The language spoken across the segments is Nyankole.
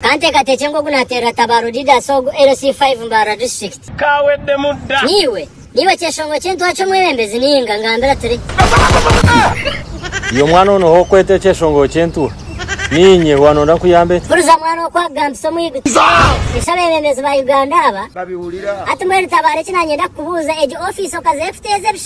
Ka nteekateekye nk'oku naateerera Tabaaro Didas ogu LC5 Mbarara District. Ka weddemu dda. Niiwe, niiwe kyeshongo ky'entwari ky'omwebembezi nainga ngambira turi. Iyo mwana onoha okweta ekyeshongo ky'entuha. Niinye, wa nonda nkuyambe ta? Huriza mwana oku akugambisa omwiguta. Eshwa abebembezi ba Uganda aba. Babiwurira. Hati mbwenu Tabaaro eki nanyenda kukubuuza, egi ofiisi okaza ekuteeza ebishuba?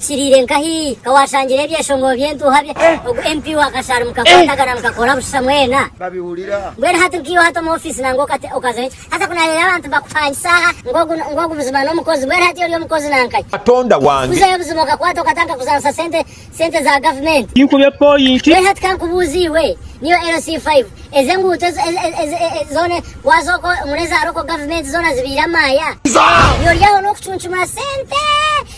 Kiriire nka hi ka waashangire ebyeshongoro by'entuuha bya ogu MP wa Kasharu mukakwatagana mukakora busisha mwena? babihurira. Mbwenu hati nkaiwe hati omu ofiisi nangwa okate okazayo ki? Hati ku naareeba abantu bakupangisa aha ngu ogu na ngu ogu buzima n'omukozi mbwenu hati ori omukozi nanka ki? Katonda wange. Kuzayo buzima okakwata okata nkakuzaanisa sente sente za gavumenti. Kinkube point. Mbwenu hati ka nkubuuze iwe niyo LC five ezi enguuto ezi ezi ezi e e zoona waaza okwo omuri eza Local gavumenti zoona zibaire amaaya? Ori aho n'okucuncumura sente!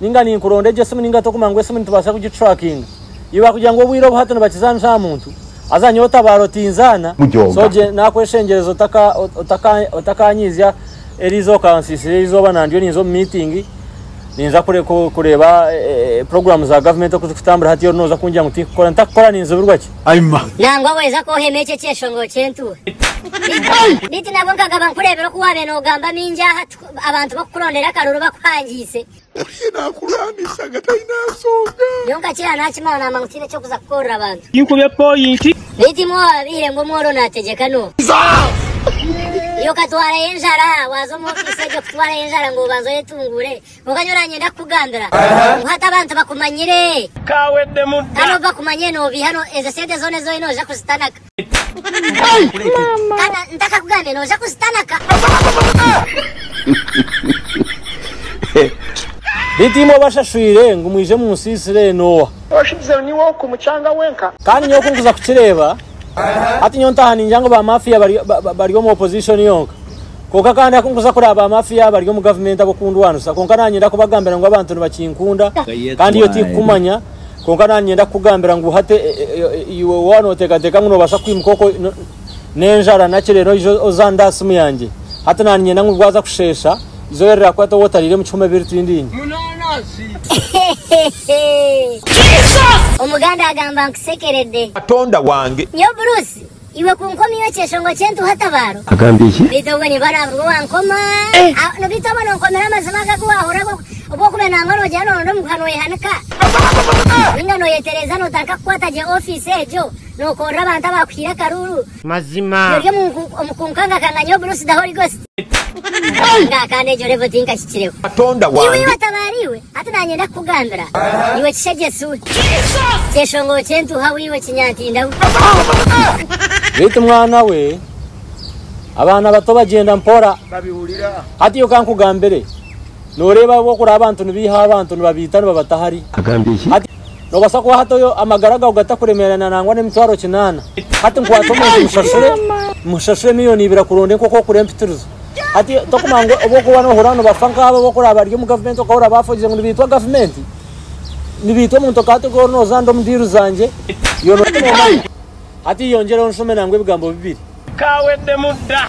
ninga ninkuronda egyo esimu ninga tokuma ngu esimu nitubaasa kugitrackinga. Iwe bakugira ngu obwire obu hati nibakizaanisa aha muntu, haza nyowe otabaara otinzaana, so gye nakweshengyereza otaka otaka otakanyiizya eriizooba okansiisira erizooba nandiyo ninza omu meeting ninza kure ku kureeba program za government oku zikutambura hati ori noza kungira ngu tinkukora ntakukora ninzibirwa ki? Ayima. Nangwa weza kwohema ekyo ekyeshonga okyentuha. Beitu nabwo nkagaba nkureebire oku wabaire nogamba maingi aha. Abantu bakukurondera akaruru bakuhangiise. Oriya naakurwanisa nga taine nshonga. Nyowe nkakira naakimanya naamanya ngu tiine eky'okuza kukoorora abantu. Tinkube pooyinti. Beitu imwe owaabaire ngu omworo naategyeka n'oha? Iwe okatwarayo enjara waaza omu ofiisi egyo kutwarayo enjara ngu obanze oyetunguure. Kwonka nyowe oranyenda kukugambira ngu hati abantu bakumanyire. Kaaweddemu dda. Kandi obu bakumanyire noobeiha, ezo sente zoona ezi oine noija kuzitanaka. Beitu imwe abashashwire ngu mwije omu nsi Isiraeli n'owa? Oshubizeho niiwe oku mucanga wenka. Kandi nyowe ku nkuza kukireeba, hati nyowe ntaaha ningira ngu ba mafia bari omu opposition yonka. Kwonka kandi aku nkuza kureeba ba mafia bari omu gavumenti ab'okundwanisa. Kwonka nanyenda kubagambira ngu abantu nibakinkunda kandi iyo tikukumanya Kwonka nanyenda kukugambira ngu hati iwe waba noteekateeka ngu nobaasa kwimuka okwo n'enjara nakyi reero oije ozande aha simu yangye. Hati nanyenda ngu bwaza kusheesha, eizooba rirakwata obe otariire mukihome ebiri twindiine. Omuganda agamba nkusekerede. Katonda wange. Nyowe Bruce Iwe kunkomiyo ekyeshongo ky'entuha tabaaro. Agambye eki? Beitu obwe niba araba ngu wankoma eh. Beitu obwe nonkomera amazima aga agu wahurra obw'okube nangwa nogira noronda omuguha noyehanika ninga noyetereza notarika kukwata gye office egyo nokorra abantu abakuhiire akaruuru. Mazima. Ori omu kunkangakanganyo Bruce the Holy Ghost. Katonda wange. Beitu mwana we, abaana bato bagyenda mpora. Hatiyo ka nkugambire, noreeba ahu okuraba abantu nibeiha abantu nibabeita nibabata hariya. Hatiyo. Noobaasa kuha hati oyo amagara gaawe gatakuremeerana nangwa n'emitwaro kinaana? Hati nkwata omuntu mushashure, mushashure milioni ibiri akuronde nk'oku orikukora empitirizo. Hati tokumanya ngu obu orikuba noohurira nibafa nk'abo abu orikuraaba bari omu gavumenti okahurira baafogize ngu nibaitwa gavumenti, nibaitwa omuntu okaba tigwe oriho nooza ndi omu diiru zangye, yoona otari noomanya. Hati yongyereho nshome nangwa ebigambo bibiri. Kaaweddemu dda.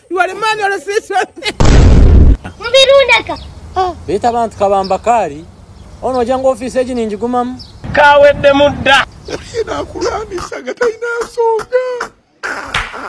Beitu abantu kabamba kaari Ono nogira ngu ofiisi egi ningigumamu? Kaweddemu dda.